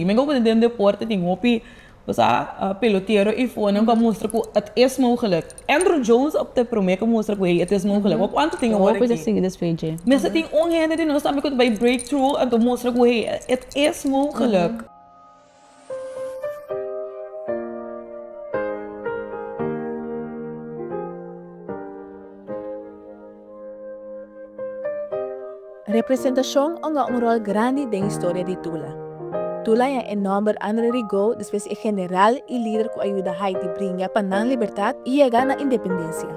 I mi komo den deporte tin hopi bosa pelotero i fonan ku a mustra ku et is mogelek. Andruw Jones op ta e promé ku mustra ku ei et is mogelek. Wak kuantu tin awor aki. Mi sa tin un hende di nos tambe ku ta bai break through en ta mustra ku ei et is mogelek. Representashon onga un ròl grandi den historia di Tula. Tula ya e nòmber Andre Rigaud despues e general i lider ku a yuda Haiti bringa pa nan libertat i yega na independensia.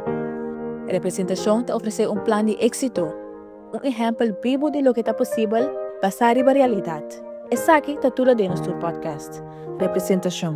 Representashon ta ofresé un plan di éksito, un ehèmpel bibu di loke ta posibel basá riba realidat. Esaki ta Tula den nos tur podcast, Representashon.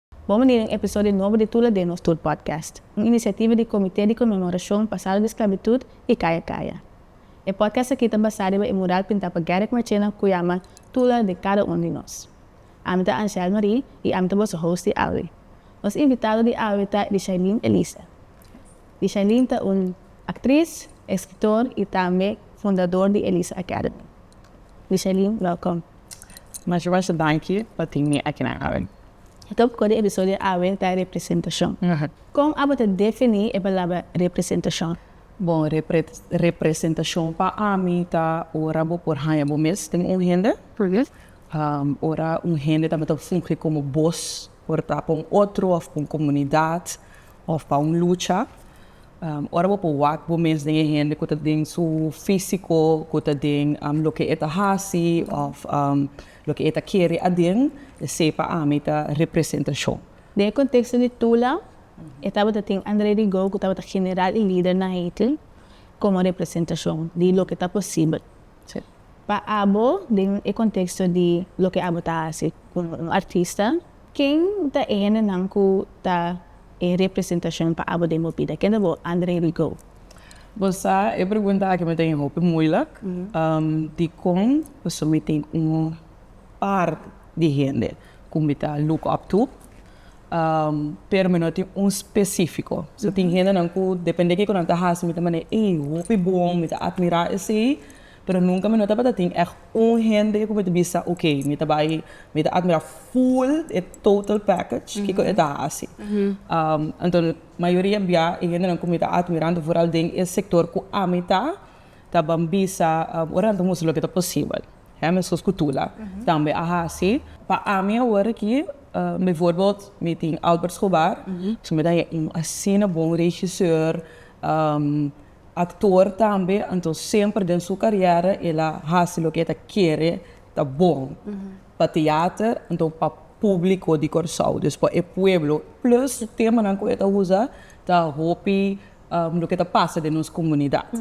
Bon bini den episodio nobo di Tula Den Nos Tur Podcast, un inisiativa di Comité di Conmemoracion Pasado di Esclavitud y Caya Caya. E podcast aki ta basá riba e mural pintá pa Garrick Marchena cu yama Tula di Cada Un di Nos. Ami ta Angèle Marie y ami ta boso host di awe. Nos invitado di awe ta Richaileen Elisa. Richaileen ta un actriz, escritor y tambe fundador di Elisa Academy. Michelin, welkom. Masha masha danki pa tin mi akinan awe. Top kore episodio awe ta representashon. Kon abo ta defini e palabra representashon? Bon, representashon pa ami ta ora bo por haña bo mes den un hende, ora un hende tabata fungi komo bos por ta pa un otro òf pa un komunidat òf pa un lucha. Ora bo por wak bo mes den e hende ku ta den su físiko, ku ta den loke e ta hasi òf loke e ta kere aden, esei pa ami ta representashon. Den e konteksto di Tula, e tabata tin André Rigaud ku tabata general i lider na Haiti komo representashon di loke ta posibel. Pa abo, den e konteksto di loke abo ta hasi komo un artista. Ken ta e hendenan ku ta e representashon pa Abu den bo bida? Kende bo? André Rigaud. Bo sa, e pregunta aki mester e hopi muilik, dikon pasobra mi tin un parti di hende ku mi ta look up to, pero mi no tin un spesífiko. So tin hendenan ku depende kiko nan ta hasi mi ta manera, ey, hopi bon, mi ta atmirá esei, Pero nunca mi no tabata tin echt un hende cu mi ta bisa ok, mi ta bay, mi ta admira full e total package kico e ta haci. Anto mayoria bia e hendenan cu mi ta admira anto vooral den e sector cu ami ta, ta ban bisa ora nan ta mustra loke ta posibel. He, mescos cu Tula tambe a haci. Pa ami awor aki, bijvoorbeeld mi tin Albert Schobar, pasobra mi ta yama un asina bon regisseur, Aktor tambe, anto semper den su karièra el a hasi loke e ta kere ta bon pa teater, anto pa públiko di Kòrsou, dus pa e pueblo, plus temanan ku e ta usa ta hopi loke ta pasa den nos komunidat.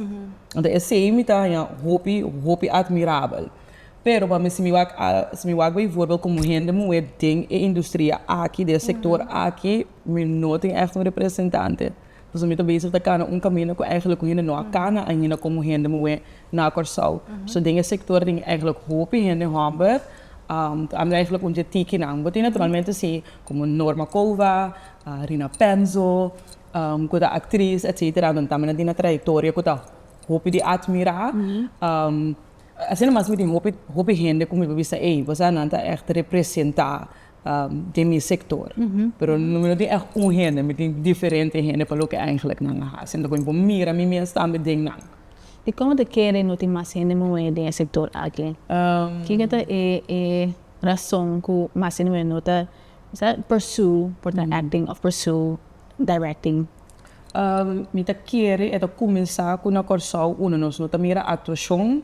Anto esei mi ta haña hopi hopi atmirabel. Pero pa mi si mi wak a, si mi wak beivoorbeeld komo hende muhé den e industria aki, den e sektor aki, mi no tin ègt un representante. Pasobra mi ta bezig ta kana un kaminda ku eigenlijk ku hende no a kana ainda komo hende muhé na Kòrsou. So den e sektor tin eigenlijk hopi hende hòmber. Ta habra eigenlijk un di e tikinan. Bo tin naturalmente si, komo Norma Kouwa, Rina Penzo, ku ta aktris etsetera, nan tambe nan tin nan trayektoria ku ta hopi di atmirá. Asina mas mi tin hopi, hopi hende ku mi por bisa, ey, bo sa nan ta ègt representá den mi sector pero no tin echt un hende mi tin diferente hende pa loke eigenlijk nan a haci enton cu mi por mira mi mes tambe den nan. Y como ta kere no tin mas hende muhe den e sector aki? Kiko ta e razon cu mas hende muhe no ta pursue por ta acting of pursue directing? Mi ta kere e ta cuminsa cu na Corsou uno nos no ta mira actuacion,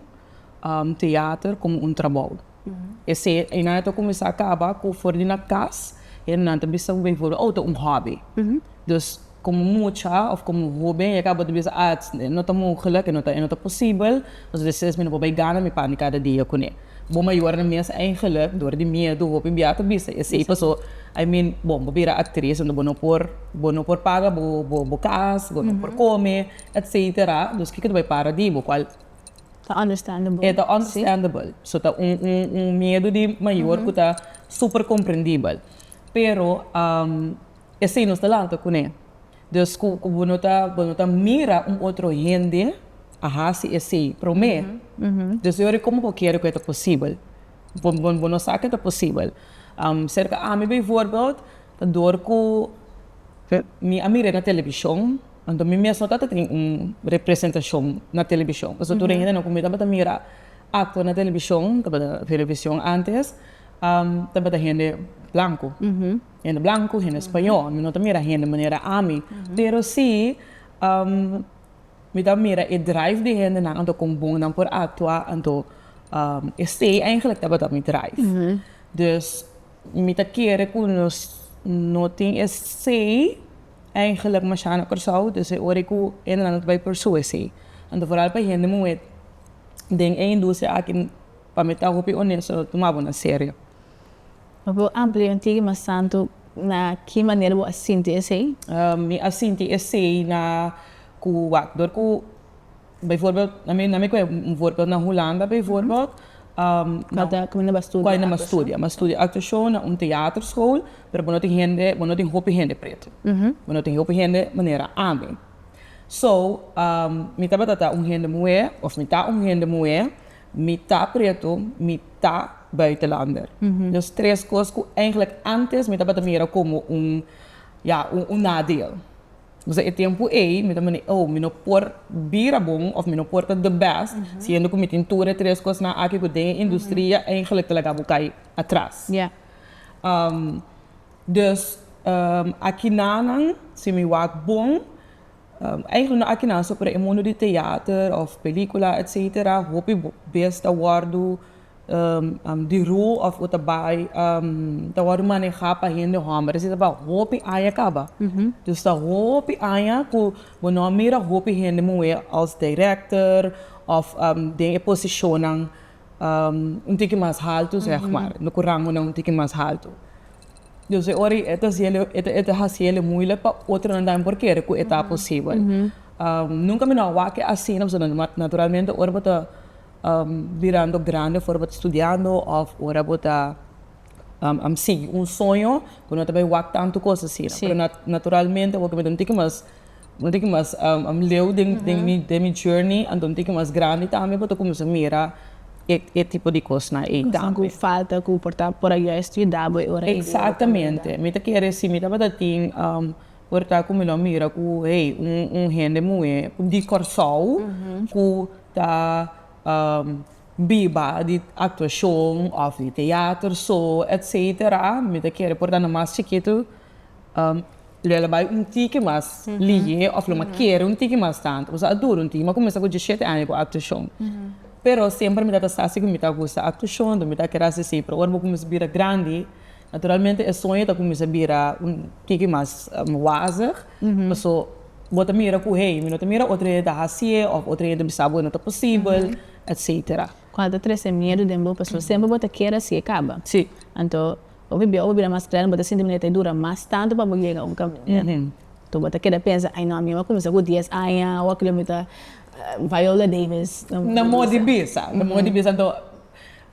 theater como un trabou. Esei Ainaya ta kuminsá kaba ku for di na kas, nan ta bisa un beivoleru ou ta un hòbi. Dus komo mucha òf komo hóben e kaba ta bisa, a e no ta mogelik, e no ta e no ta posibel, pasobra esei mi no por bai gana mi pan di kada dia ku ne. Bo mayor nan mes eingelik dor di miedu hopi bia ta bisa esei paso I mean bon bo bira aktris huntu bo no por bo no por paga bo bo bo kas, bo no por kome, etsetera, dus kiko ta bai para di bo kual Ta understandable. E ta understandable. Sí. So ta un, un, un miedu di mayor cu ta super comprendibel. Pero esey nos ta lanta cun'e. Dus cu, cu bo no ta, bo no ta mira un otro hende a haci esey prome. Dus yo ori como bo kere cu e ta posibel? Bo, bo, bo no sa cu e ta posibel. Cerca ami bijvoorbeeld ta dor cu mi a mira na television. Anto mi mes no tabata tin un representashon na televishon. Pasobra tur den hendenan ku mi tabata mira akto na televishon, tabata Verovision ántes, tabata hende blanku. Hende blanku, hende spañó. Mi no ta mira hende manera ami. Pero sí, mi ta mira e drive di hendenan, anto kon bon nan por aktua. Anto esei eingelik tabata mi drive. Dus mi ta kere ku nos no tin esei Eigenlijk masha na Kòrsou, dus e ora ku e nan ta bai por su esei. Anto foral pa hende muhé den e industria aki pa mi ta hopi onesto no tuma bo na serio. Bo a pudi un tigi mas tantu na ki manera bo a sinti esei? Mi a sinti esei na ku wak dor ku. Bijvoorbeeld, na mi, na mi coge un voorbeeld na Hulanda bijvoorbeeld, Cuando nan a studia actuacion. Bo a studia actuacion na un theaterschool, pero bo no tin hende, bo no tin hopi hende preto. Bo no tin hopi hende manera ami. So, mi tabata ta un hende muhe, of mi ta un hende muhe, mi ta preto, mi ta buitenlander. Dos tres cos cu eigenlijk antes mi tabata mira como un, ya, un nadeel. Pasobra e tempu ei mi ta mane, oh, mi no por bira bon of mi no por ta the best, siendo ku mi tin tur e tres kosnan aki ku den e industria eigenlijk ta laga bo kai atras. Dus, akinanan, si mi wak bon, eigenlijk no akinan so, pero e mundu di teater of pelíkula, etsetera, hopi bes ta wòrdu. di roo of u ta bai ta wòrdu maneha pa hende hòmber asina ta bai hopi aña kaba dus ta hopi aña ku bo no a mira hopi hende muhé als direkter of den e posishonnan un tiki mas haltu sèg ma ku rangunan un tiki mas haltu dus e ora e ta hasiel e ta hasiel e muilek pa otronan tambe por kere ku e ta posibel nunka mi no a wak asina pasobra naturalmente ora bo ta. Birando grandi for bo ta studiando of ora bo ta sigui un soño ku no ta bai wak tantu kos asina. Pero naturalmente awor ku mi ta un tiki mas un tiki mas leu den mi journey anto un tiki mas grandi tambe bo ta kuminsá mira e tipo di kosnan ei tambe. Kosnan ku falta ku por ayuda e studiá bo e ora ei. Exactamente. Mi ta kere si mi tabata tin Por ta cu mi lo mira cu hey un hende muhe di Corsou cu ta biba di actuacion of di theater so etc. Mi ta kere por ta na mas chikitu lo a bay un tiki mas lihe of lo a kere un tiki mas tanto pasobra a dura un tiki. Mi a cuminsa cu diecisiete aña cu actuacion pero semper mi ta ta sa si cu mi ta gusta actuacion mi ta kere haci si pero ora bo cuminsa bira grandi. Naturalmente e soño ta cuminsa bira un kiki mas wazig, paso bo ta mira cu hey, mi no ta mira otro hende ta haci'e of otro hende bisa bo e no ta posibel, etcetera. Cual ta trece miedu den bo, paso semper bo ta kier haci e caba. Si. Anto, bo bibia o bo bira mas grandi bo ta sinti manera ta dura mas tanto pa bo yega un caminda. Anto bo ta keda pensa, ay no, ami a wak cuminsa cu dies aña, a wak lo mi ta Viola Davis. Na modi bisa, na modi bisa. Anto,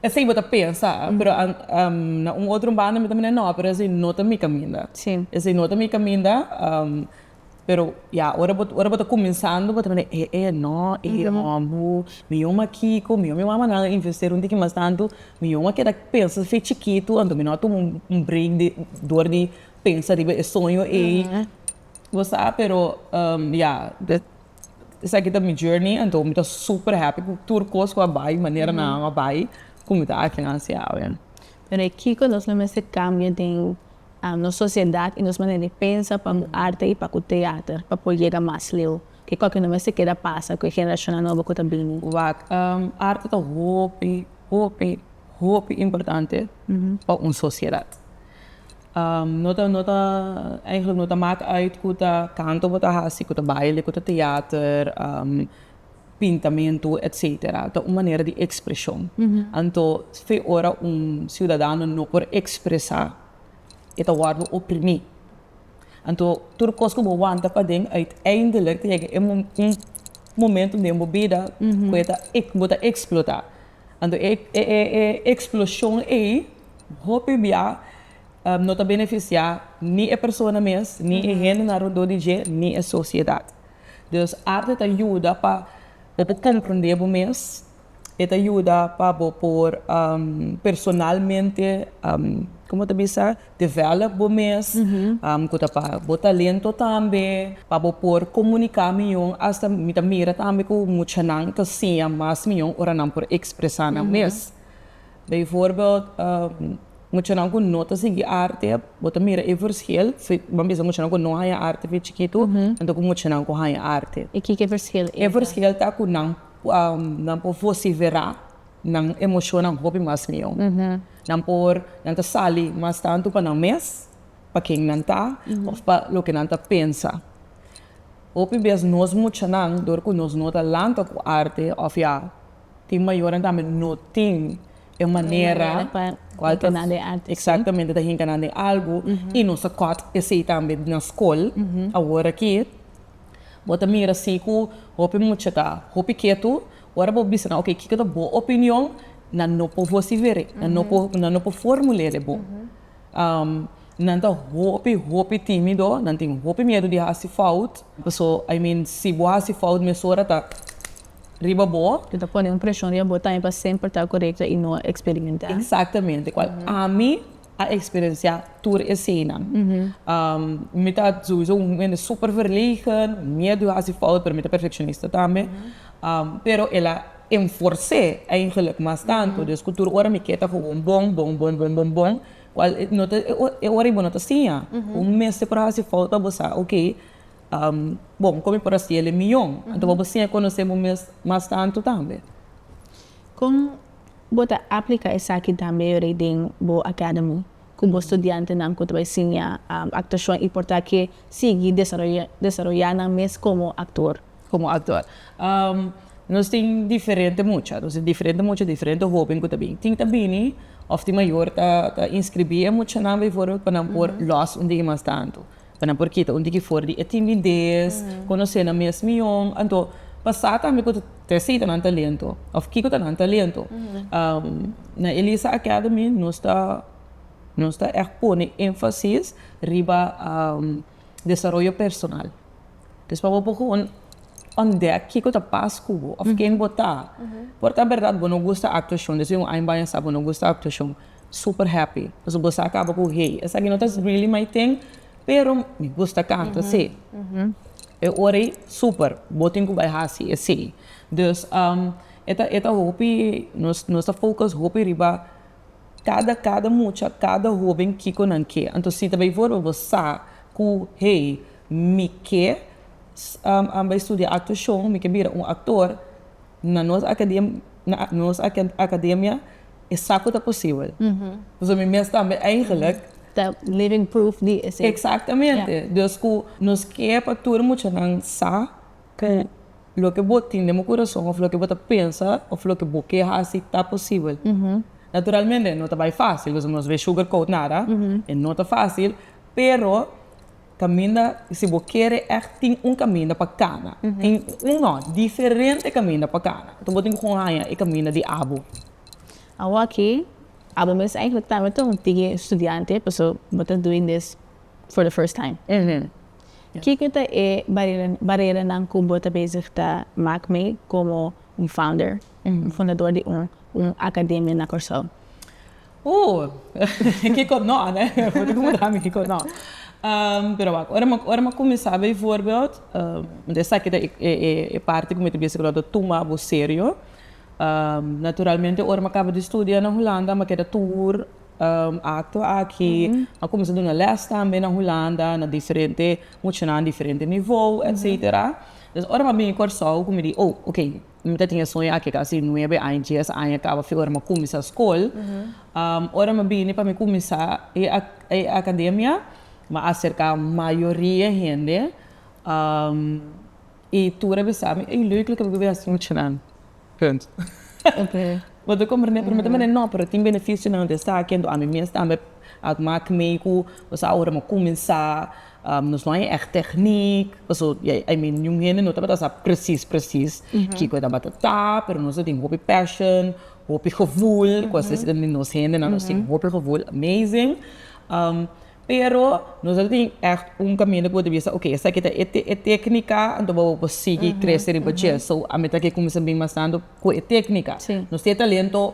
Esei bo ta pensa, pero na un otro banda mi ta mira no, pero esei no ta mi caminda. Sí. Esei no ta mi caminda, pero ya ora bo ora bo ta cuminsando bo ta mira e e no, e e hobo, mi yoma kico, mi yoma mi mama nan a investero un tiki mas tanto, mi yoma keda pensa fe chikito, anto mi no a tuma un break di dor di pensa riba e soño ei, bo sa, pero ya. Esaki ta mi journey anto mi ta super happy cu tur cos cu a bay, manera nan a bay, cu mi ta aki nan sea awe. Pero e kico nos lo mester cambia den nos sociedad y nos manera di pensa pa cu arte y pa cu teater pa por yega mas leu? Kico cu no mester keda pasa cu e generacionnan nobo cu ta bini? Wak, arte ta hopi, hopi, hopi importante pa un sociedad. No ta, no ta, eigenlijk no ta mak uit ku ta kanto bo ta hasi, ku ta baile, ku ta teater, pintamentu, etsetera, ta un manera di ekspreshon. Anto fe ora un siudadano no por ekspresá e ta wòrdu oprimí. Anto tur kos ku bo wanta paden uiteindelik ta yega un momentu den bo bida ku bo ta eksplotá. Anto e eksploshon ei hopi bia no ta benefisiá ni e persona mes, ni e hendenan alredor di dje, ni e sosiedat. Dus arte ta yuda pa bo por komprendé bo mes, e ta yuda pa bo por personalmente, komo ta bisa? develop bo mes cu ta pa bo talento tambe pa bo por comunica mijo asta mi ta mira tambe cu muchanan ta siña mas mijo ora nan por expresa nan mes bijvoorbeeld muchanan cu no ta sigui arte bo ta mira e verschil bo a bisa muchanan cu no haya arte fen chikito anto cu muchanan cu haya arte e kiko e verschil ta cu nan por vocivera. Nan emoshonnan hopi mas mihó. Nan por, nan ta sali mas tantu pa nan mes, pa ken nan ta òf pa loke nan ta pensa. Hopi bes nos muchanan, dor ku nos no ta lanta ku arte òf ya tin mayornan tambe, no tin e manera kual ta eksaktamente ta hinka nan den algu i nos a kòt esei tambe na skol. Awor aki bo ta mira si ku hopi mucha ta hopi ketu Ora bo bisa nan, oke, kiko ta bo opinion? Nan no por hosti were, nan no por, nan no por formul'é den bo. Nan ta hopi, hopi tímido, nan tin hopi miedu di hasi fout, paso, I mean, si bo hasi fout mesora ta riba bo. Bo ta pone un preshon riba bo tambe pa semper ta korekto i no eksperimentá. Eksaktamente, kual ami. a experiencia tur esena mi ta sowiso un hende super verlegen miedu di hasi fout pero mi ta perfeccionista tambe pero el a enforce eigenlijk mas tanto dus cu tur ora mi ke ta gewoon bon bon bon bon bon bon cual e ora y bo no ta siña cu mester por a hasi fout pa bo sa ok bon con mi por a siel e miyon anto pa bo siña conoce bo mes mas tanto tambe. Bo ta aplica esaki tambe riba den bo academy cu bo studiantenan cu ta bay siña actuacion y por ta ke sigui desaroya nan mes como actor? Como actor. Nos tin diferente mucha, nos tin diferente mucha, diferente hoben cu ta bini. Tin ta bini of tin mayor ta inscribi e muchanan bijvoorbeeld pa nan por los un dia y mas tanto. Ta na por kita un tiki for di e timidez, conoce nan mes miyon. Anto, pa sa tambe cu ta esey ta nan talento of kico ta nan talento. Na Elisa Academy nos ta nos ta echt pone enfasis riba desaroyo personal. Dus pa bo por con ontdek kico ta pas cu bo of ken bo ta. Por ta berdad bo no gusta actuacion, desey un aña baya sa bo no gusta actuacion. super happy pasobra bo sa caba cu hey esa aquí no ta really my thing pero mi gusta canta sí e ora ey super bo tin cu bay haci esey dus e ta hopi nos ta focus hopi riba cada cada mucha cada hoben kico nan ke entos si ta bay for bo sa cu hey mi ke bay studia actuacion mi ke bira un actor. Na nos akademia e sa ku ta posibel. Pasobra mi mes tambe eigenlik. Ta living proof di esei. Eksaktamente. Dus ku nos ke pa tur e muchanan sa ku loke bo tin den bo kurason òf loke bo ta pensa òf loke bo ke hasi ta posibel. Naturalmente e no ta bai fásil, pasobra nos bai shugarcoat nada. E no ta fásil, pero Kaminda, si bo kere ègt tin un kaminda pa kana, tin un nò, diferente kaminda pa kana. Anto bo tin ku haña e kaminda di abo. Awor aki, abo mes ègentlik ta tambe un tighe studiante, pasobra bo ta dui des for the first time. Kiko ta e bareranan ku bo ta bezig ta mak mee komo un founder, un fundador di un akademia na Kòrsou? Ooh, kiko no, nè? Por di ku bo ta haña kiko no? Pero wak, ora mi, ora mi kuminsá bijvoorbeeld, want esaki ta e parti ku mi ta bisa ku lo ta tuma bo serio. Naturalmente ora mi a kaba di studia na Hulanda mi a keda tur akto aki, mi a kuminsá duna lès tambe na Hulanda na diferente muchanan diferente nivo, etsetera. Ora mi a bini Kòrsou ku mi di oh, ok, Mi ta tin e soño aki kasi nuebe aña, dies aña kaba fe ora mi a kuminsá skol. Ora mi a bini pa mi kuminsá e akademia, mi a aserká mayoria hende i tur a bisa mi, Ey, leuk lo ke bo probeer hasi muchanan. Punt. Bo ta komprendé? Pero mi ta mira, no, pero tin benefisionan di esaki. Anto ami mes tambe a mak mei ku bo sa awo ora mi a kuminsá. Nos no hay echt techniek, paso I mean niun hende no tabata sa precies precies kico e tabata ta, pero nos a tin hopi passion, hopi gevoel, cu a sesi den di nos hende nan, nos tin hopi gevoel amazing, pero nos no tin echt un caminda cu bo ta bisa ok esaki ta e tecnica, anto bo por sigui crece riba dje, so ami ta ke cuminsa bin mas tanto cu e tecnica, nos tin e talento.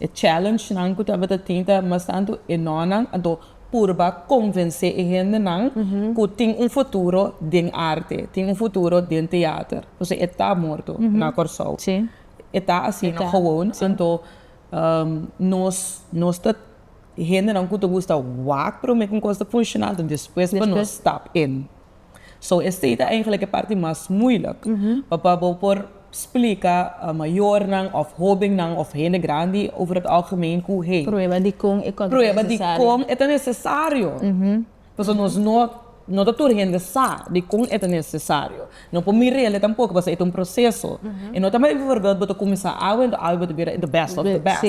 E challenge-nan ku tabata tin ta mas tantu e nònan, anto purba konvensé e hendenan ku tin un futuro den arte, tin un futuro den teater. Pasobra e ta morto na Kòrsou. E ta asina gewoon. Anto nos, nos ta hendenan ku ta gusta wak promé ku un kos ta funshoná, anto despues pa nos stap in. So esei ta eigenlijk e parti mas moeilijk pa bo por splika mayornan òf hobennan òf hende grandi over het algemeen ku hey, Prueba dikon e kos ta nesesario. prueba dikon e ta nesesario. Pasobra nos no no ta tur hende sa dikon e ta nesesario. No por mira elnan tampoco pasobra e ta un proseso. E no ta mai bifurbild bo ta kuminsá awe enton awe bo ta bira the best of the best.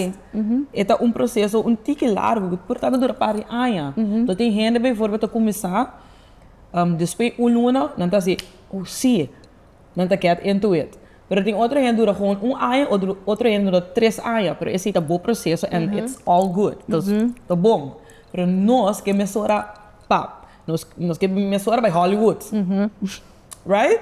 E ta un proseso un tiki largu ku por tabel dura par di aña. Tin hende bifurbild ta kuminsá Despues un luna nan ta si, oh si, nan ta get into it. Pero tin otro hende dura gewoon un aña, otro hende dura tres aña, pero esei ta bo proceso and it's all good, ta bon. Pero nos ke mesora pap, nos ke mesora bay Hollywood, right?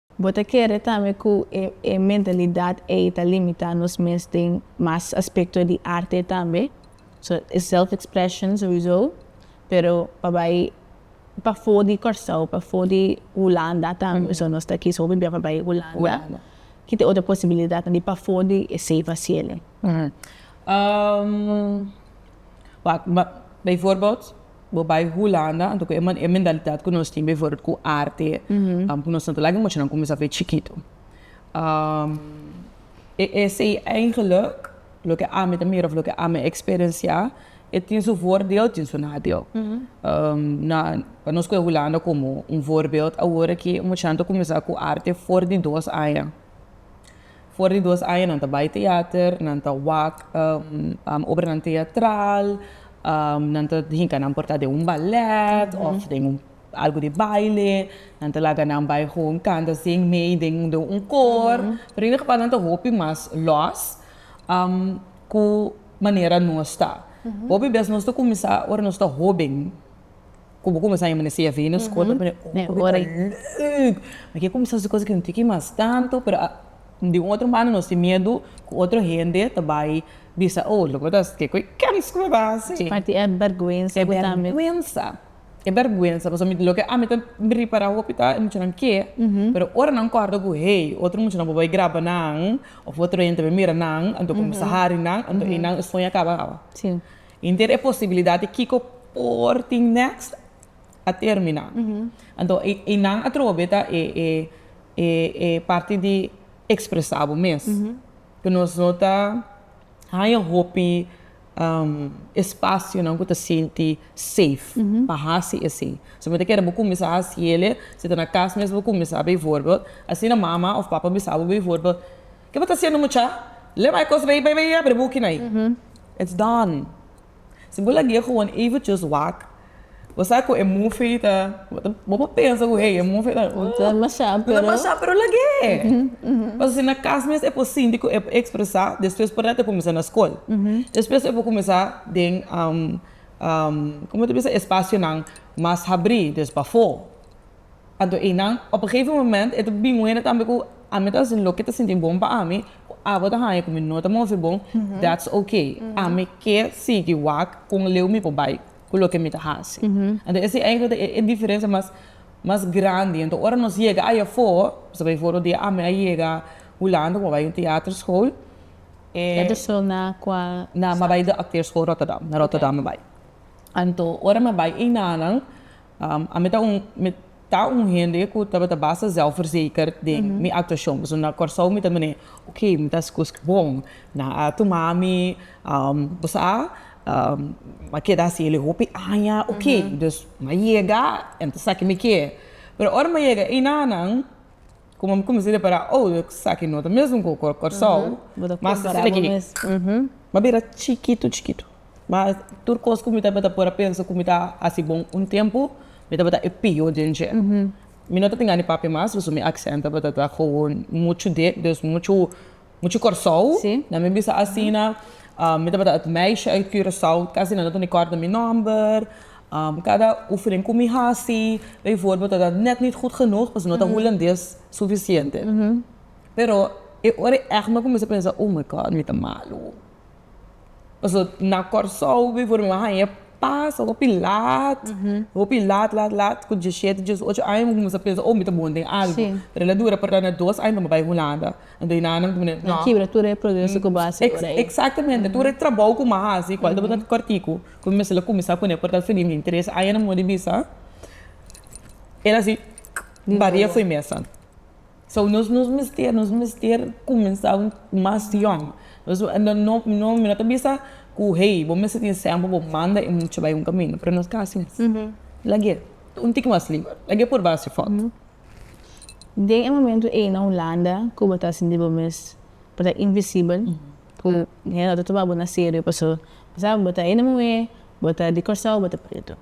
Bo ta kere tambe ku e e mentalidat ei ta limitá nos mes den mas aspekto di arte tambe? So e self-expression souizo, pero pa bai pafó di Kòrsou, pafó di Hulanda tambe, so nos ta kis hopi bia pa bai Hulanda. Ki ta e otro posibilidatnan di pafó di esei fasiel ei? Wak, baivoorbeeld, Bo bai Hulanda, anto cu e mentalidad cu nos tin bijvoorbeeld cu arte, cu nos no ta laga e mochinan cuminsa fe chikito. E essay eigenlijk, loke ami ta mira of loke ami experiencia, e tin su voordeel, tin su nadeel. Na, pa nos coge Hulanda como un voorbeeld, awor aki e mochinan ta cuminsa cu arte for di dos aña. For di dos aña nan ta bai teater, nan ta wak obranan teatral, nan ta hinca nan porta den un ballet of den un algo di baile, nan ta laga nan bai gewoon canta sin mei den un koor. Pero in e geval nan ta hopi mas los cu manera nos ta. Hopi bes nos ta cuminsa ora nos ta hoben. Cu bo cuminsa yama ne CFI nos school ta pone oh cu bita leuk mi ke cuminsa haci cosnan cu mi no tin ki mas tanto pero a di un otro mano nos tin miedu cu otro hende ta bay bisa oh lo cu mi ta haci kico e kens cu mi bay haci es parti e berguensa cu tambe e berguensa e berguensa pasobra mi loke ami ta repara hopi ta e muchanan ke pero ora nan corda cu hey otro muchanan por bay graba nan of otro hende ta bay mira nan anto cuminsa hari nan anto eynan e sueño a caba awa. Inter e posibilidad di kiko por tin next a termina. Anto e nan atrobe ta e parti di expresa bo mes. Cu nos no ta haña hopi espacionan cu ta sinti safe pa haci esey. Si bo ta kere bo cuminsa haci el'e, si ta na cas mes bo cuminsa, bijvoorbeeld, asina mama of papa bisa bo bijvoorbeeld, Ke bo ta hasiendo mucha? Leba e kos rei, bai bai abri bukina ei. It's done. Si bo lagu'e gewoon eventjes wak, bo sa ku e mufi ta, bo por pensa ku ei e mufi ta, ta demasha, pero, ta demasha, pero lagu'e. Pasobra si na kas mes e por sinti ku e por ekspresá, despues por na'te kuminsá na skol. Despues e por kuminsá den komo ta bisa espasionan mas habrí, des pafó. a do einan op un gegeven moment e ta bin wene tambe ku ami ta hasi loke ta sinti bon pa ami ku abo ta haña ku mi no ta move bon that's ok ami ke sigui wak kon leu mi por bai ku loke mi ta hasi enton ese enkele ta e diferensia mas mas grandi enton ora nos yega ai afo pasobra befo otro dia ami a yega Hulanda ku mi a bai un teater school e Teater school na kual stad? Na mi a bai de Acteur School Rotterdam na Rotterdam mi a bai enton ora mi a bai einanan Ami ta un mi ta un hende ku tabata basta zelfverzeker den mi aktuashon pasobra na Kòrsou mi ta mira ok mi ta hasi kos bon nan a tuma mi bo sa a keda hasi el e hopi aña ok dus mi a yega mi ta sa ke mi kier pero ora mi a yega ei nanan Como mi cuminsa repará, oh, esaki no ta mesmo cu Corsou, mas ta suma ki, m'a bira chikitu, chikitu. Ma tur cos cu mi tabata por a pensa cu mi ta haci bon un tempo, mi tabata e pior den dje. Mi no ta tin gan e papia mas, pasobra mi accent tabata ta gewoon mucho dek, dus mucho Mucha Corsou, na mi bisa asina, mi tabata et meisje uit Curaçao, casi nan ta tene kort na mi nomber, cada oefening cu mi haci, bijvoorbeeld ta dat net niet goed genoeg, pasobra no ta Hulandes suficiente, pero e ora e echt mi a cuminsa pensa, oh my God, mi ta malo. Pasobra na Kòrsou before mi a haña pas hopi lat, hopi lat lat lat ku dies shete dies ocho aña mi kuminsá pensa oh mi ta bon den algu pero la dura parda na dos aña pa mi bai Hulanda anto e nannan mi di no Kibra tur e proseso ku bo hasi ora ei. Exactamente tur e trabou ku mi a hasi kual tabata kòrtiku ku mi mester a kuminsá kuné por tal fini mi tres aña na mud'e bisa el a si baria fo'i mesa. So nos nos mester nos mester cuminsa mas yong nos no no mi no ta bisa cu hey bo mester tin seno pa bo manda e mucha bay un camino pero nos ta haci mes lag'e un tiki mas liber lag'e por bay haci foto. Den e momento ey na Hulanda cu bo ta sinti bo mes bo ta invisible cu hende no ta tuma bo na serio pasobra bo ta hende muhe bo ta di Corsou bo ta preto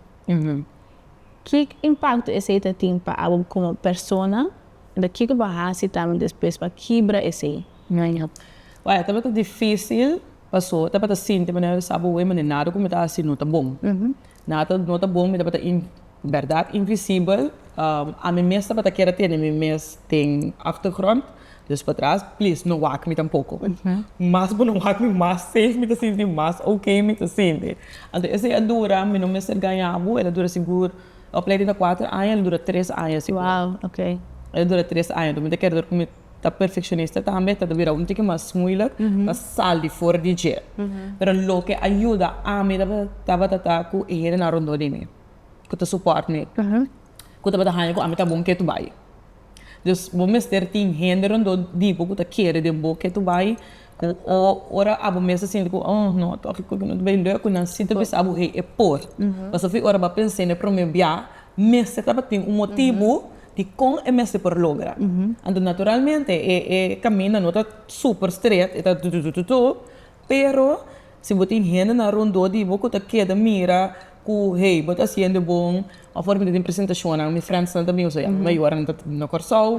Ki impakto esei ta tin pa abo komo persona, i kiko bo a hasi tambe despues pa kibra esei? Bai, e tabata difísil, paso e tabata sinti manera mi sa bo, manera nada ku mi ta hasi no ta bon. Nada no ta bon, mi tabata in, bèrdat, invisibel. Ami mes tabata kere tene mi mes den achtergrond. Dus patras, please no wak mi tampoco. Mas bo no wak mi, mas safe mi ta sinti, mas ok mi ta sinti. Anto esei a dura, mi no mester gaña bo, el a dura sigur, e opleiding ta kuater aña, el a dura tres aña sigur. Wow, ok. El a dura tres aña, anto mi ta kere tur ku mi ta perfekshonista tambe, ta ta bira un tiki mas muilik pa sal di for di dje. Pero loke a yuda ami tabata ta ku e hendenan rondó di mi, ku ta suport mi, ku tabata haña ku ami ta bon ke tur bai. Dus bo mester tin hende rondó di bo ku ta kere den bo ke to bai ku o ora abo mes ta sinti ku oh no tok e kup no ta bai lòk ku nan si ta bisa bo hei e por. Pasobra ora bo a pens'é na e promé biaha mester tabatin un motibu di kon e mester por logra. Anto naturalmente e kaminda no ta super stret e ta tututututu pero Si bo tin hendenan rondó di bo ku ta keda mira ku hey, bo ta hasiendo bon, afore mi ta tin presentashonnan, mi friendsnan ta bin bai mi a yuda, nan ta na Kòrsou,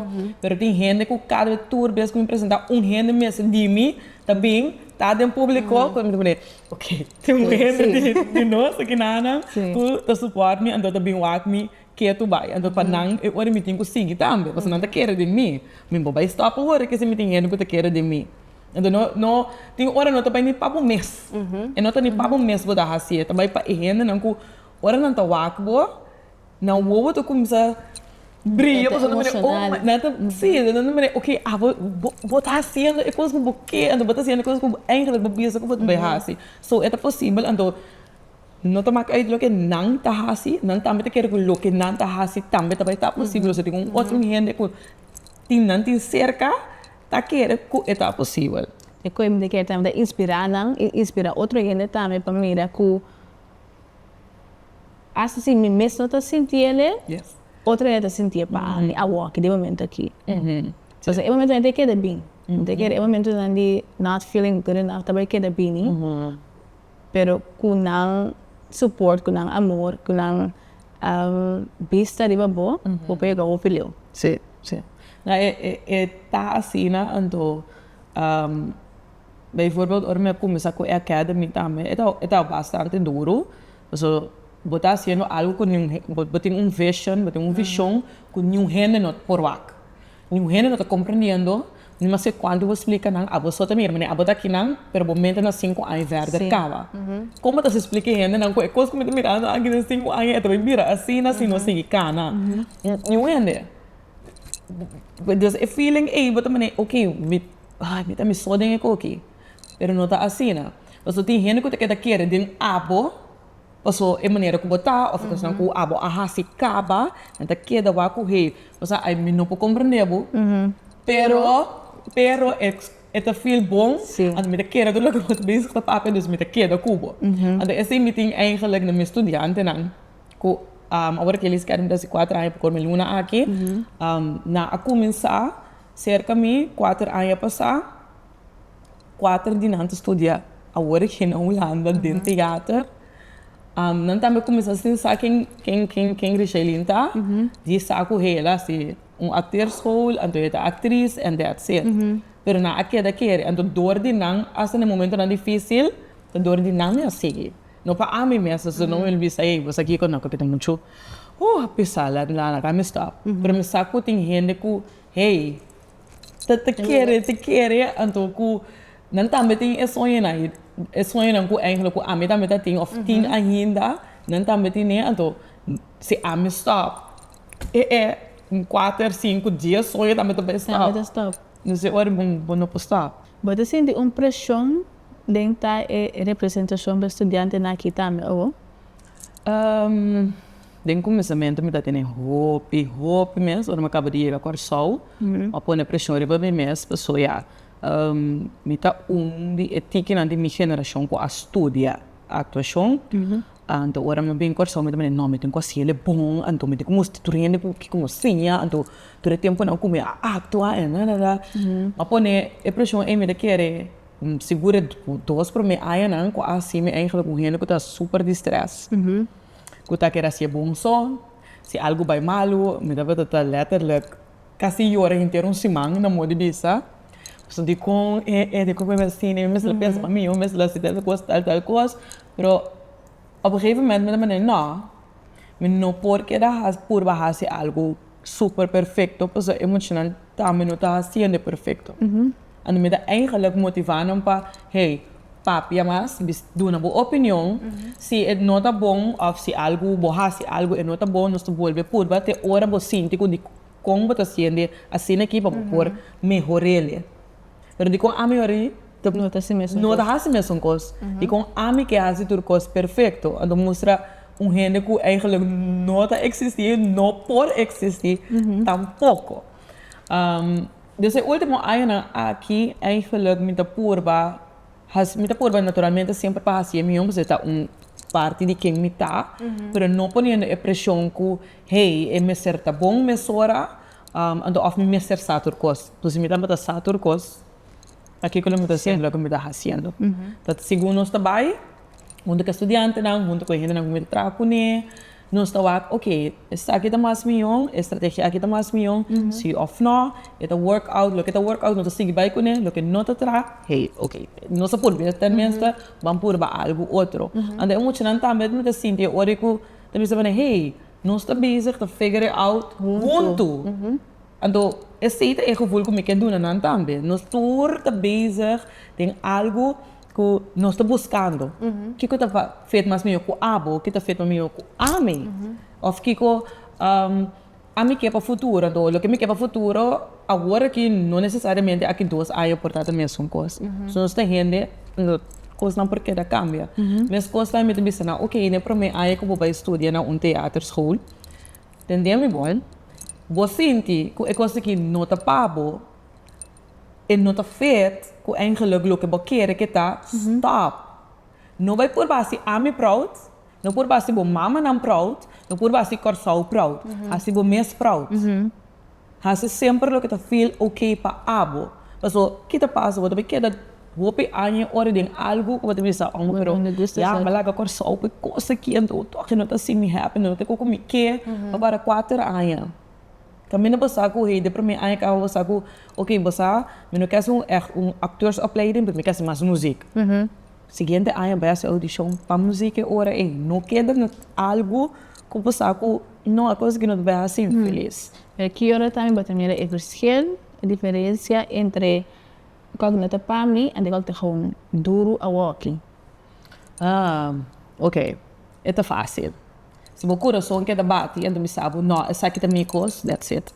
pero tin hende ku kada bes, tur bes ku mi presentá un hende mester di mi ta bin ta den públiko, ku mi ta pone ok, tin un hende di nos aki nanan ku ta supòrt mi, anto ta bin wak mi Ke tu bai? Anto pa nan e ora mi tin ku sigui tambe, pasobra nan ta kere di mi. Mi bo bai stòp awor, ke si mi tin hende ku ta kere di mi? Anto no, no, tin ora no ta bai ni pa bo mes. E no ta ni pa bo mes bo ta hasi, e ta bai pa e hendenan ku ora nan ta wak bo, nan wowo ta kuminsá bria pasobra nan ta mira, oh my, nan ta, sí, nan ta mira, ok, abo, bo, bo ta hasiendo e kos ku bo ke, anto bo ta hasiendo e kos ku bo, eingelik bo bisa ku bo ta bai hasi. So, e ta posibel, anto No ta mak uit loke nan ta hasi, nan tambe ta kere ku loke nan ta hasi tambe ta bai ta posibel. Osea, tin un otro hende ku tin nan tin serka ta kere ku e ta posibel. E ku e mi ta kere tambe ta inspirá nan i inspirá otro hende tambe pa mira ku asta si mi mes no ta sinti ele, otro hende ta sinti e pa ami awor aki den momentu aki. Entonces e momentunan ta keda bini. Mi ta kere e momentunan di not feeling good enough ta bai keda bini. pero ku nan support ku nan amor ku nan bista riba bo bo por yega hopi leu. Sí sí nan e ta asina anto bay voorbeeld ora mi a kuminsá ku e academy tambe e tabata bastante duru pasobra bo ta hasiendo algu ku niun bo tin un vision bo tin un vishon ku niun hende no por wak Niun hende no ta comprendiendo, no mester cuantu bo splica nan, aboso ta mira, mane abo ta akinan, pero bo mente na cinco aña verder caba. Con bo ta haci splica e hendenan cu e cos cu mi ta mirando aki den cinco aña e ta bay bira asina si no sigui cana? Niun hende. Entonces e feeling ey bo ta mane, ok, mi, ay, mi ta amiso den e coki, pero no ta asina. Pasobra tin hende cu ta keda kere den abo. Paso e manera ku bo ta òf e kosnan ku abo a hasi kaba, nan ta keda wak ku hei. O sa, ai mi no por komprendé bo, pero pero e e ta feel bon, anto mi ta keda tur loke bo ta bezig ta papia, dus mi ta keda ku bo. Anto esei mi tin eigenlik na mi studiantenan ku awor ku Elis kèn besi kuater aña por kòrda mi luna aki, nan a kuminsá serka mi kuater aña pasá. Kuater di nan ta studia awor aki na Hulanda den teater. Nan tambe kuminsá sin sa ken ken Richelin ta. Di sa ku hel a hasi un akterschool, anto e ta aktris en dats it. Pero nan a keda kere. Anto dor di nan, asta na e momentunan difísil, ta dor di nan mi a sigui. No pa ami mes, asin no mi el bisa, ey, bos a kiko nan ku mi ta muchu, uh, a pesá, laga mi stòp. Pero mi sa ku tin hende ku, hey. Ta ta kere ta kere anto ku nan tambe tin e soñonan e soñonan ku eigenlik ku ami tambe ta tin of tin ainda nan tambe tin e anto si ami stòp e e kuater sinku dies soño tambe ta bai stòp dus e ora bo no por stòp. Bo ta sinti un preshon den ta e representashon pa e studiantenan aki tambe awo? Den kuminsamentu mi ta tene hopi, hopi mes. Ora mi a kaba di yega Kòrsou, mi a pone preshon riba mi mes pasobra ya mi ta un di e tikinan di mi generashon ku a studia aktuashon. Anto ora mi bin Kòrsou mi ta mira, no, mi tin ku a hasi ele bon. Anto mi tin ku mustra tur hende ku kiko mi a siña. Anto tur e tempunan ku mi a aktua en a. Mi a pone e preshon ei, mi ta kere sigur e dos promé añanan ku a hasi mi engelha ku un hende ku ta super di strès. ku ta keda si e bon so, si algu bai malu, mi tabata ta letterlijk kasi yora henter un siman na mor di bisa, pasobra dikon e e dikon ku mi mester sina, mi mester la pensa pa mi, mi mester la hasi tal kos, tal tal kos, pero op e gegeven moment mi ta manera no, mi no por keda has purba hasi algu super perfecto pasobra e muchanan tambe no ta hasiendo e perfecto. Anto mi ta eigenlijk motivá nan pa, hey, papia mas, bis, duna bo opinion. Si e no ta bon òf si algu, bo hasi algu e no ta bon, nos ta bolbe purba te ora bo sinti ku di kon bo ta siente asina aki pa bo por mehor'ele. Pero dikon ami hora'i ta, No ta hasi mesun kos. no ta hasi mesun kos, dikon ami ke hasi tur kos perfekto, anto mustra un hende ku eigenlik no ta eksistí, no por eksistí tampoko. Des e ultimo añanan aki eigenlijk mi ta purba haci, mi ta purba naturalmente semper pa haci e mion pasobra e ta un parti di ken mi ta, pero no poniendo e presion cu hey e mester ta bon mesora anto of mi mester sa tur cos. Pues si mi tabata sa tur cos pa kico mi ta haciendo loke mi ta haciendo. Ta segun nos ta bay hunto cu e studiantenan, hunto cu e hendenan cu mi ta traha cune. Nos ta wak, oke, esaki ta mas mihó, e strategia aki ta mas mihó, sí òf nò, e ta work out, loke ta work out nos ta sigui bai kuné, loke no ta tra, hey, oke, nos ta por bira ten minste ban purba algu otro. Anto e muchanan tambe ta mester sinti e ora ku ta bisa manera, hey, nos ta bezig ta figure it out huntu. Anto esei ta e gevul ku mi ke duna nan tambe. Nos tur ta bezig den algu. ku nos ta buskando kiko ta fet mas mihó ku abo, kiko ta fet mas mihó ku ami, òf kiko ami ke pa futuro. Anto loke mi ke pa futuro awor aki no nesesariamente aki dos aña por tabata mesun kos. So nos ta hende kosnan por keda kambia. Mes kosnan mi ta bisa nan, oke na e prome aña ku bo bai studia na un teaterskool, tende mi bon, bo sinti ku e kos aki no ta pa bo, E no ta feet cu eingeluk loke bo kere ke ta stop. No bay purba haci ami proud, no purba haci bo mamanan proud, no purba haci Corsou proud. Haci bo mes proud. Haci semper loke ta feel ok pa abo. Paso ki ta pasa? Bo ta bay keda hopi aña y ora den algo cu bo ta bisa, Homber, pero ya mi a laga Corsou pa e cos aki, enton tochi no ta haci mi happy, no tin cu cu mi ke pa para cuater aña. Ta mi no basa ku hei de promé aña kaba basa ku oke basa mi no ke hasi un ech un akteursopleiding pero mi ke hasi mas muzik siguiente aña bai hasi audishon pa muzik e ora ei no keda na algu ku basa ku no e kos aki no ta bai hasiu felis. E ki ora tambe bo ta mira e verschil e diferensia entre kok no ta pa mi ande kok ta hou duru awoki. Haa oke e ta fasil. Si bo kurason keda bati anto mi sa bo, no, esaki ta mi kos, that's it.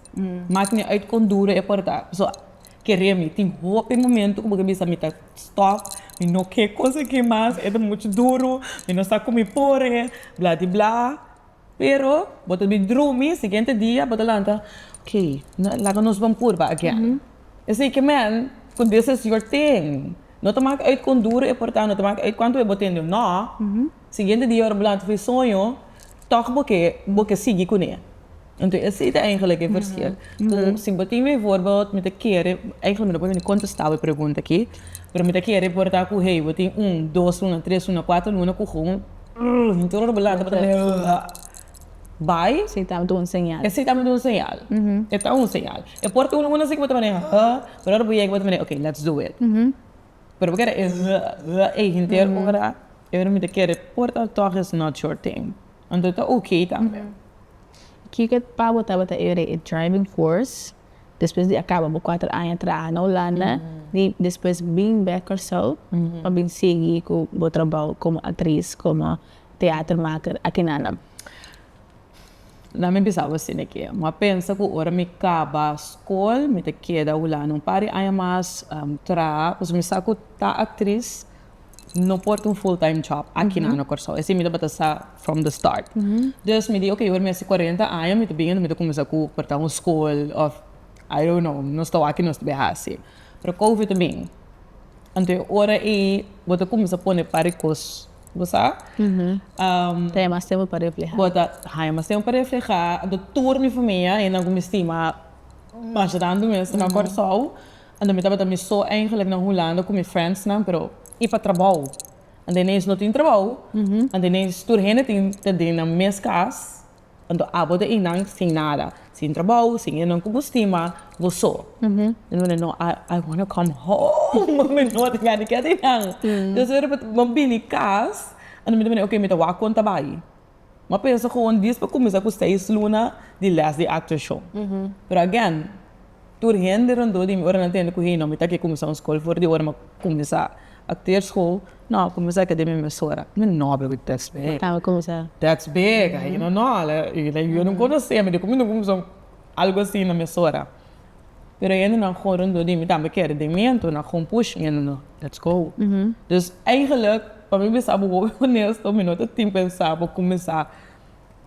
Maki mi uit kon duru e por ta. Pasobra kere mi. Tin hopi momento ku bo ta bisa mi ta stòp, mi no ke kos aki mas, e ta muchu duru, mi no sa ku mi por e, bladibla. Pero bo ta bin drumi, siguiente dia bo ta lanta, ok, laga nos bon purba again. Esei ke men ku this is your thing. No ta maki uit kon duru e por ta, no ta maki uit kuantu e bo tende o no. Siguiente dia ora bo lanta fo e soño tok bo ke bo ke sigui kuné. Enton esei ta eingelik e verschil. Ku si bo tin bijvoorbeeld mi ta kere, eingelik mi no por wini kontestá bo e pregunta aki, pero mi ta kere por ta ku hey bo tin un dos luna, tres luna, kuater luna ku gun hinter ora bo lanta bo ta bini bai. Esei ta un señal. Esei ta un señal. E ta un señal. E por ta un luna así ku bo ta bini pero ora bo yega bo ta bini ok let's do it. Pero bo kere e r, r ei henter ora e permite kere por ta tòg is not your thing. Anto ta ok tambe. Kiko pa bo tabata e re e driving force despues di a kaba bo kuater aña traha na Hulanda di despues bin bèk Kòrsou pa bin sigui ku bo trabou komo aktris, komo teatermaker akinan? Na mi bisa bo sin e ke. Mi a pensa ku ora mi kaba skol mi ta keda Hulanda un par di aña mas traha, pasobra mi sa ku ta aktris no por ta un full time job aki nan na Kòrsou. Esei mi tabata sa from the start. Dus mi di oke, ora mi hasi kuarenta aña mi ta bini, enton mi ta kuminsá ku por ta un skol òf I don't know, nos ta wak i nos ta bai hasi. Pero Covid a bini. Anto e ora ei bo ta kuminsá pone par di kos Bo sa? Ta e mas tempu pa reflehá. Bo ta ha e mas tempu pa reflehá. Anto tur mi famia, esnan ku mi stima masharantu mes, ta na Kòrsou. Anto mi tabata mi so eingelik na Hulanda ku mi frèndsnan, pero i pa trabou. Anto ineens no tin trabou, anto ineens tur hende tin ta den nan mes kas. Anto abo ta einan sin nada, sin trabou, sin e nan ku bo stima, bo so. Mi wòrdu no, I I wanna come home, mi no ta gana di keda einan. Entonces mi riba mi a bini kas, anto mi ta mira, okay mi ta wak kon ta bai. Mi a pensa kon dis pa kuminsá ku seis luna di lès di actor show. Pero again. Tur hende rondó di mi ora nan tende ku hei no mi ta ke kuminsá un skol for di ora mi kuminsá akter skol no kuminsá ke den mi mesora mi no be wit teks bek Tabo kuminsá. teks bek a hende no la la yu no konosemi diko mi no kuminsá un algu asi na mesora pero hende nan kon rondó di mi tambe kere den mi ento nan kon push mi hende no let's go dus eigenlik pa mi bisa bo honesto mi no ta tin pensá bo kuminsá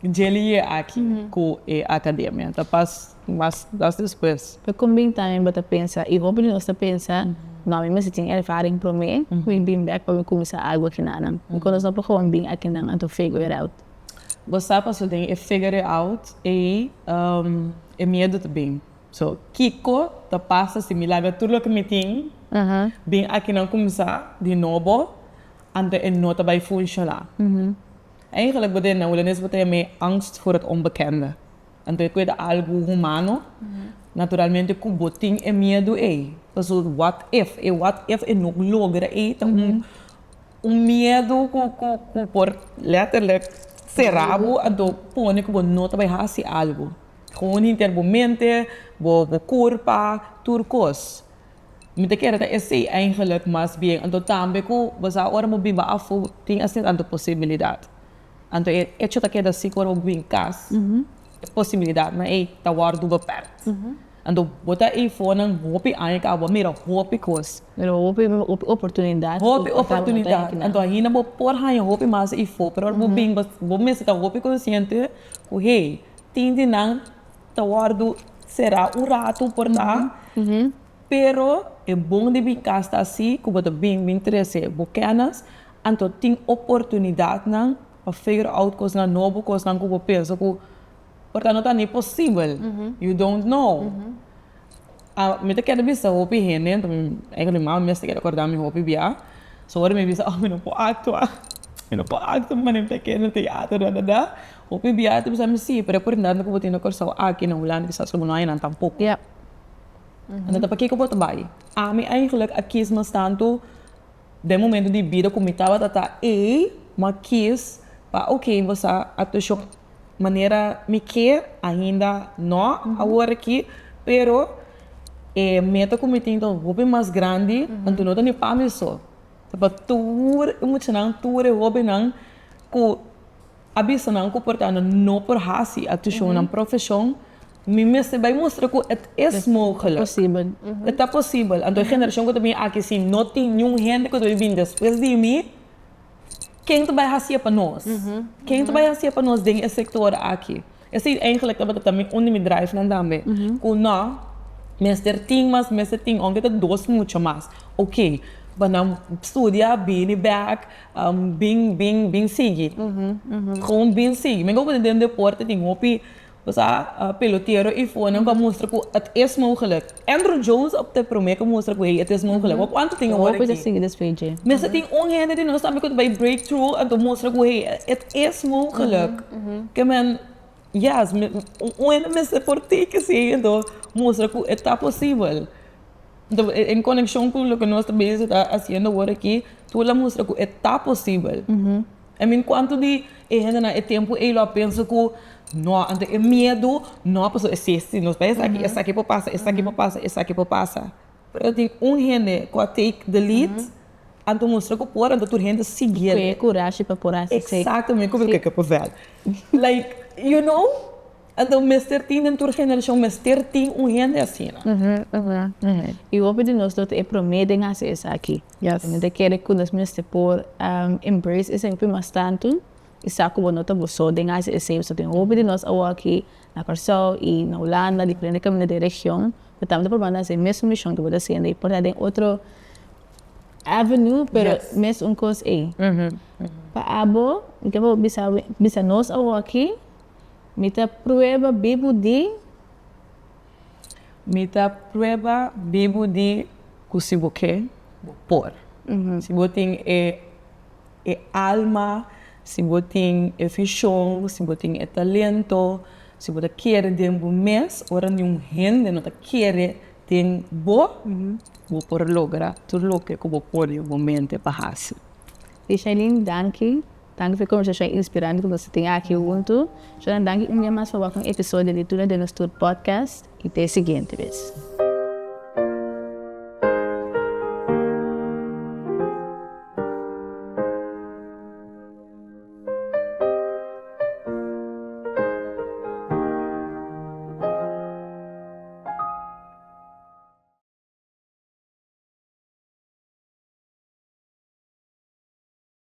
Dje liye aki ku e akademia ta pas mas das despues. Pero kon bin ta mi bo ta pensa, i hopi di nos ta pensa, no mi mester tin ervaring promé ku mi bin bèk pa mi kuminsá algu akinanan? I kon nos no por hopi bin akinan anto figure it out? Bo sa paso den e figure it out ei e miedu ta bin. So kiko ta pasa si mi laga tur loke mi tin bin akinan kuminsá di nobo anto e no ta bai funshoná? Eigenlijk bo den na Hulandes bo ta yam'é angst voor het onbekende. Anto e kueda algu humano, naturalmente ku bo tin e miedu ei. Paso what if, e what if e no logra ei ta un miedu ku por letterlijk sera bo anto pone ku bo no ta bai hasi algu. Gewoon hinter bo mente, bo kurpa, tur kos. Mi ta kere ta esei eigenlijk mas bien. Anto tambe ku basa ora bo biba afu tin asina tantu posibilidat. Anto e echo ta keda si ku ora bo biba den kas e posibilidatnan ei ta wòrdu bepèkt. Anto bo ta efor nan hopi aña kaba bo a mira hopi kos. Mira hopi oportunidat. Hopi oportunidat. Anto ainda bo por haña hopi mas efor. Pero ora bo binba bo mester ta hopi konsiente ku hey tin di nan. Ta wordo será un rato por ta pero e bon di bin cas ta así cu bo ta bin bin trece bo kenas anto tin oportunidad nan pa figure out cosnan nobo cosnan cu bo pensa cu por ta no ta ni posibel you don't know a mi ta kere bisa hopi hende anto mi eisnan mi mama mes ta kere corda mi hopi bia so ora mi bisa oh mi no por actua mi no por actua mi ta keda teatro dadada Hopi biaha ta bisa mi si, pero e oportunidad ku bo tin na Kòrsou aki na Hulanda kisas ku bo no haña nan tampoko. Enta pakiko bo ta bai? Ami eigenlik a kis mas tantu den momento di bida ku mi tabata ta ei, m'ha kis pa oke mi sa actuacion manera mi kier, ainda no awor aki, pero e meta ku mi tin ta hopi mas grandi, anto no ta ni pa mi so, ta pa tur e muchanan, tur e hobennan ku A bisa nan ku por ta nan no por hasi a tushon nan profeshon, mi mester bai mustra ku et es mogelek. Posibel. E ta posibel. Anto e generashon ku ta bini aki si no tin niun hende ku ta bai bini despues di mi, ken ta bai hasié pa nos? Ken ta bai hasié pa nos den e sektor aki? Esei eigenlijk tabata tambe un di mi drivenan tambe, ku nò mester tin mas, mester tin ounke ta dos mucho mas, oke pa nan studia, bini bèk, bin bin bin sigui, gewoon bin sigui. Mi komo den deporte tin hopi, bo sa, pelotero i fonan ku a mustra ku at es mogelik. Andrew Jones op ta e promé ku mustra ku e yete esmun ku leba kuantu tin e wòrdu aki. Mester tin un hende di nos tambe ku ta bai break through anto mustra ku hey e ta esmun geluk. Kemen yes un hende mester por teke si anto mustra ku e ta posibel. Anto en konekshon ku loke nos ta bisa ta hasiendo wòrdu aki tur la mustra ku e ta posibel. I mean cuanto di e hendenan e tempo ey lo a pensa cu no anto e miedo no a paso esiste nos bay esaki esaki por pasa esaki por pasa esaki por pasa pero ta tin un hende cu a take the lead anto mustra cu por anto tur hende sigi el cu e curashi pa por hasi si exactamente como kiko por fel like you know anto mester tin den tur generacion mester tin un hende asina. I hopi di nos lo ta e prome den hasi esaki. Depende di kere ku nos mester por embrace esei hopi mas tantu i sa ku bo no ta bo so den hasi esei. Pasobra tin hopi di nos awor aki na Kòrsou i na Hulanda, diferente kaminda den region, bo tambe ta por manda esei mesun mishon ku bo ta hasiendo i por ta den otro avenue, pero mes un kos ei. Pa abo, mi ta wou bisa wen, bisa nos awor aki, mi ta prueba bibu di. Mi ta prueba bibu di cu si bo ke, bo por. Si bo tin e e alma, si bo tin e vision, si bo tin e talento, si bo ta kere den bo mes, ora niun hende no ta kere den bo, bo por logra tur loke cu bo pone bo mente pa haci. Richelin, danki. Danki pa e conversacion inspirante cu nos a tin aki hunto. Ciudadano, danki un bia mas pa wak un episodio di Tuna den nos tur podcast y te siguiente bes.